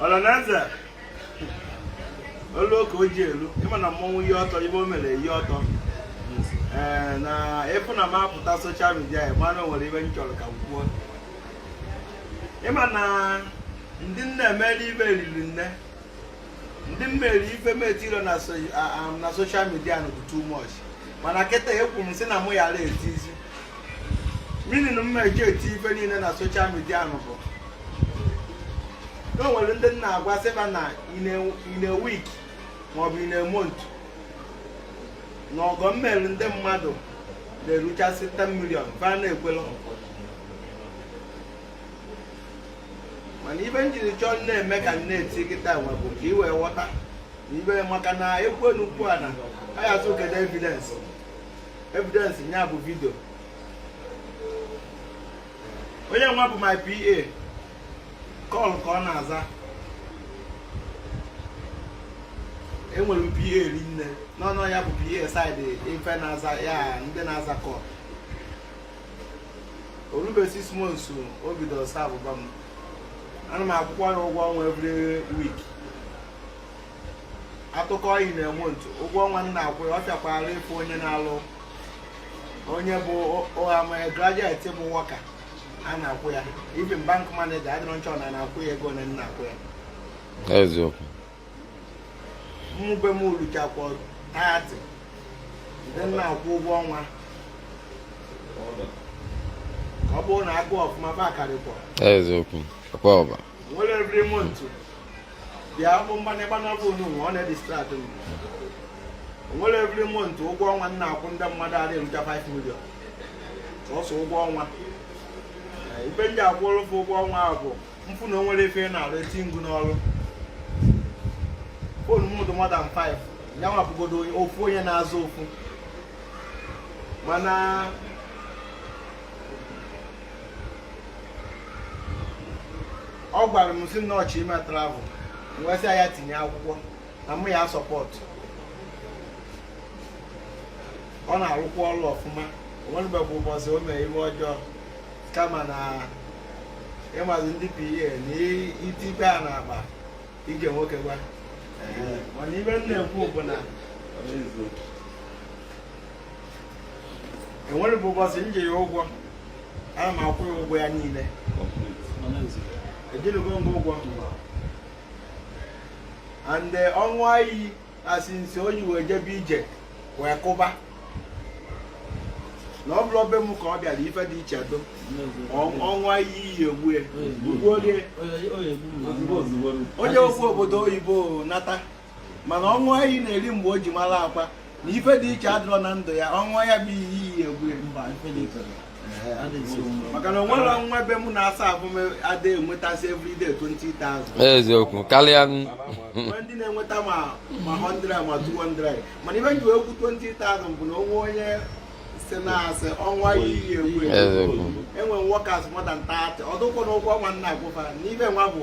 ọlanaeze olu oke oji elu ịma na mmọnwụ ihe ọtọ ive o mere ihe ọtọ ee na ịfụ na m apụta social media ya mana o nwere ive m chọrọ ka m kwuo ịma na ndị m na-emere ive eriri nne ndị m mere ife m etirọ na so- a- a- na social media nụ bụ too much mana kịta ekwu m sị na mụ yara etizi meaning mma eji eti ife niile na social media nụ bụ na o nwere ndị m na-agwa sị va na in a week maọbụ in a month na ọgọ m meri ndị mmadụ na-eruchasị 10 million va na-ekwela mana ive m jiri chọọ na-eme ka m na-eti kịta nwa bụ ka ị wee ghọta na ive maka na ekwu n'okwu a na a ya-asị kedu evidence evidence nya bụ video onye nwa bụ my PA call ka ọ na-aza enwere m PA eri nne nọ na ya bụ PA side ife na-aza ya ndị na-aza call o rube six months o bidoro savụba m ana m akwụkwa ya ụgwọ ọnwa every week atụkọọ ya in a month ụgwọ ọnwa m na-akwụ ọ fịakwara ịfụ onye na-alụ onye bụ ama graduate bụ worker a na-akwụ ya even bank manager adịrọ m sure na a na-akwụ ya ego one m na-akwụ ya eziokwu ụmụ boy m eluchakwa 30 ndị m na-akwụ ụgwọ ọnwa ọ bụrụ na agụọ ọfụma va karịkwa eziokwu akwa ọba nwere every month bịa bụ mmanya gbanyụọ phone nwa ọ na-edistract m o nwere every month ụgwọ ọnwa m na-akwụ ndị mmadụ na-elucha 5 million sọsọ ụgwọ ọnwa eh, ife m ji akwụrụ va ụgwọ ọnwa ahụ bụ m fụ na o nwere ife na-arụ eti m gụ n'ọrụ phone m dị more than 5 ya nwapụgodo ofu onye na-aza ofu mana ọ gwara m sị na ọ chọ ime travel m wee sị ya tinye akwụkwọ na mụ ya support ọ na-arụkwa ọrụ ọfụma o nwerọbe bụ ụbọchị o mee ive ọjọọ kama na ịmazi ndị PA na iti ibe a na-akpa ike nwoke gwa mana ive m na-ekwu bụ na enwerọ ụbọchị m ji ya ụgwọ ana m akwụ ya ụgwọ ya niile ejilugo m ụgwọ and eh, ọ ṅụa iyi na since o ji wee jebe ije wee kụba na ọ bụrọ be m ka ọ bịara ife dị iche do ọ ṅụa iyi iyi egbue onye okwu obodo oyibo nata mana ọ ṅụa iyi na eri mgbe o ji mara Akwa na ife dị iche adịrọ na ndụ ya ọ ṅụa ya bụ iyi iyi egbue mba ife dị iche maka na onwerọ nwa be m na-asa ahụ m ada enwetasị everyday 20,000 eziokwu karịa ndị na-enweta ma 100 ma 200 mana ife m ji ekwu 20,000 bụ na onwe onye si na-asị ọ ṅụa ya iyi egbue enwere m workers more than 30 ọ dụkwọ na ụgwọ ọnwa m na-akwụ fa n'ibe nwa bụ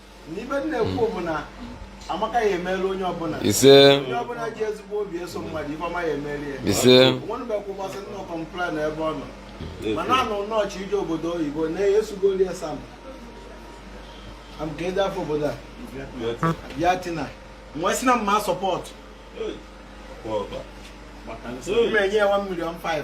n'ife m na-ekwu bụ na amaka ya emeli onye ọbụla ise onye ọbụla ji ezigbo obi eso mmadụ ife ọma ya emeli ya ise nwenụbekwụkwasị nna complain ebe ọ nọ mana ọ nọ na ọ chọ ije obodo oyibo na-esugoli ya sam am ka ede afọ obodo a bịa tinye m wee sị na m ma support m enye ya 1 million 5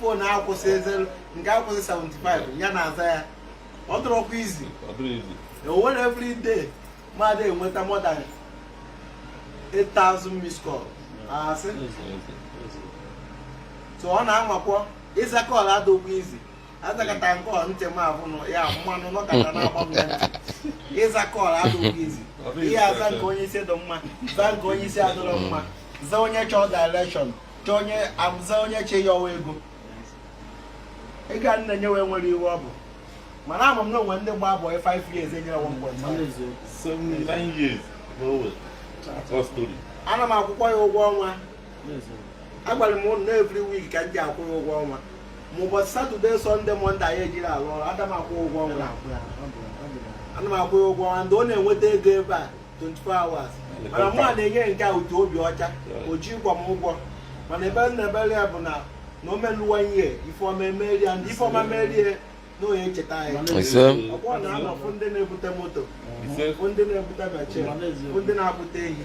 phone akwụsị ezelu nke akwụsị 75 ya na-aza ya ọ dụrọkwa easy o nwere every day mmadụ enweta more than 8000 miss call asị so ọ na-anwakwọ ịza call adịkwọ easy ị zakata nke ọ ntị m abụ ya mmanụ nọkata na-agba m ya ịza call adịkwọ easy ị ya aza nke onye isi dụ mma za nke onye isi adịrọ mma za onye chọọ direction chọọ onye aza onye che ya ọwa ego ị ga na-enye wee nwere iwe ọ bụ mana ama m na onwere ndị gbaa boy 5 years enyere one point ana m akwụkwọ ya ụgwọ ọnwa agwara m ụnụ na every week ka m ji akwụ ya ụgwọ ọnwa ma ụbọchị Saturday Sunday Monday anyị ejirọ alụ ọrụ ana m akwụ ụgwọ ọnwa ana m akwụ ya ụgwọ ọnwa and ọ na-enweta ego ebe a 24 hours mana mụ a na-enye nke a utu obi ọcha o jikwọ m ụgwọ mana ife m na-ekpere ya bụ na na o meluwa ihe ifeọma emerie ya ndị ifeọma merie na onye echeta anyị Ise. ọkwọ na a na-afụ ndị na-ebute moto fụ ndị na-ebute bache fụ ndị na-akpụta ehi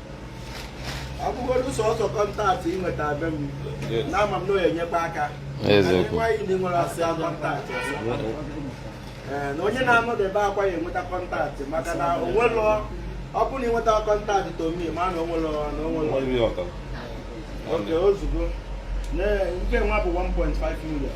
ọ bụgodu sọsọ contact ị nweta be m na ama m na ọ ya enyekwa aka nwaanyị ndị nwere asị contact ee na onye na-anọdebe Akwa ya enweta contact maka na onwelọ ọ bụrụ na ị nweta contact tomi ma na onwelọ na onwelọ oke ozugbo nke nwa bụ 1.5 million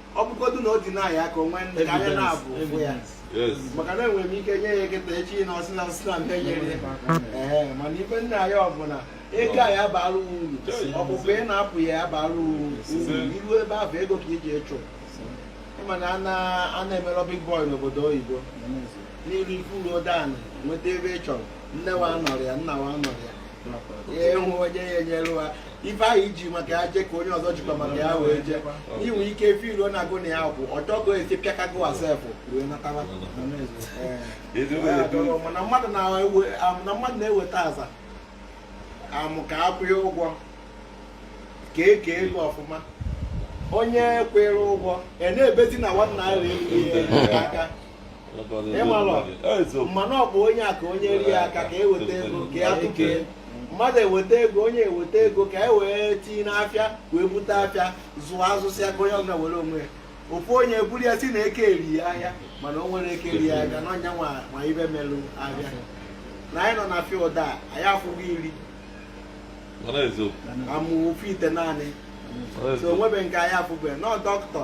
ọ bụgodu na ọ dị na ya aka o nwee ndị ka anya na-afụ ụfụ ya maka na enwere m ike nye ya kịta echi na ọ sị na ọ sị na mụ enyerọ ya ee mana ife m na-ayọ bụ na ego a ya abara wụ uru ọpụpụ ị na-apụ ya ya abara wụ uru i ru ebe ahụ ego ka i ji ịchụ ị ma na a na-emerọ big boy n'obodo oyibo na i ru i cool down nweta ife ị chọrọ nne wa anọrọ ya nna wa anọrọ ya ị hụ onye ya enyelu ha ife ahụ i ji maka ya jee ka onye ọzọ jikwa maka ya wee jee i nwe ike firuo na agụ na ya kwụ ọ chọgo esi pịakago asefụ wee nataba mana mmadụ na-eweta aza amụ ka akwụghị ụgwọ ka e kee ego ọfụma onye kwere ụgwọ e na-ebezi na nwanna ahụ erie aka ma na ọ bụ onye a ka onye rie aka ka e weta ego ka ya tụkee mmadụ eweta ego onye eweta ego ka e wee tinye n'afịa wee bute afịa zụọ a zụsịa ka onye ọbụla were onwe ya ofu onye buru ya sị na eke eri ahịa mana o nwere eke eri ahịa na onye a ma ife melụ afịa na anyị nọ na field a anyị afụghị iri amụ ofu ite naanị so o nwebe nke anyị afụbe nọ dọkịta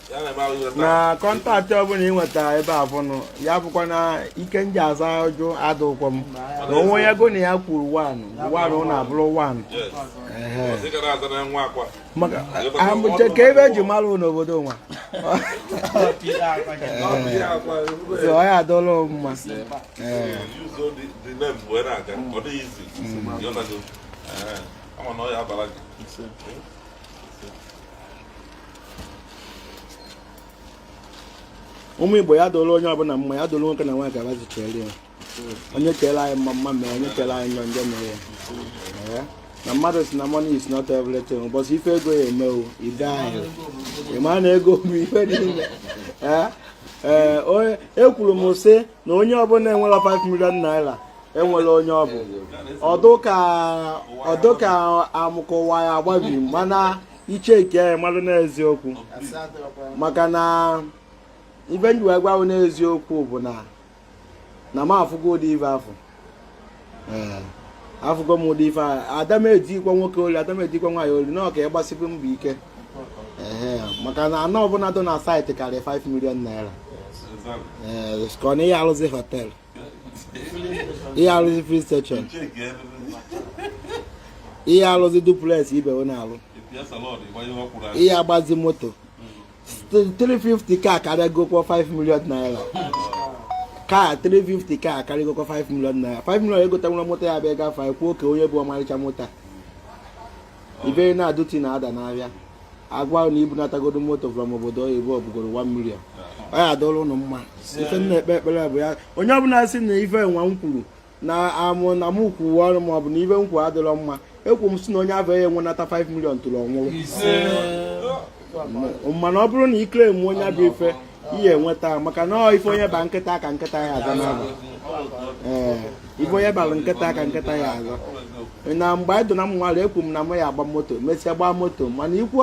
na contact ọbụla ị nweta ebe afụ nụ ya bụkwa na ike m ji aza ọjụ adụkwọ m na onwe ya go na ya kwuru wanụ wanụ na abụrụ wanụ amụche ka ife e ji mara n'obodo nwa ọ ya adụrụ mma a ma na ọ ya abara gị ụmụ igbo ya dụrụ onye ọbụla mma ya dụrụ nwoke na nwaanyị ka bazi chere ya onye chere anyị mma mma mee onye chere anyị njọ njọ mee ya na mmadụ sị na money is not everything ụbọchị ife ego ya eme wụ ide ahịa ị ma na ego bụ ife niile ee ekwuru m sị na onye ọbụla enwerọ 5 million naira enwerọ onye ọ bụ ọ dụ ka amụkọwa ya agbabi mana i che ike anyị mmadụ n'eziokwu maka na ife m ji wee gwa wụ n'eziokwu bụ na na m afụgo ụdị ife afụ eh, afụgo m ụdị ife ahụ ada emezikwa nwoke olu ada emezikwa nwaanyị olu na ọ ka ị gbasibe mbọ ike eh, maka na ana ọbụla dị na site karịa 5 million naira eh, ka ọ na ị ya alụzi hotel ị ya alụzi filling station ị ya alụzi duplex ibe wụ na-alụ ị ya agbazi moto 350 ka akarịgokwa 5 million naira ka 350 ka akarịgokwa 5 million naira 5 million egotanwurọ moto ya abụ ọ gafe e kwuo kee onye bu ọmarịcha moto a ibe na duty na ada n'ahịa agwa na i bunatagodo moto from obodo oyibo ọ bụgodo 1 million ọ ya adịrị ụnụ mma ife m na-ekpe ekpere bụ ya onye ọbụla si na ife nwa m kwuru na amụ na m kwuwe ọrụ ma ọ bụ na ife m kwuru adịrọ mma ekwu m si na onye afụ ya enwenata 5 million tupu ọ nwụrụ mana ọ bụrụ na i kwere money bụ ife ị ya enweta maka na ọ ife onye ba nkịta ka nkịta ya aza n'aba ee ife onye bara nkịta ka nkịta ya aza na mgbe anyị dụ na nwata ekwu m na m ya agba moto mesịa gbaa moto mana i kwu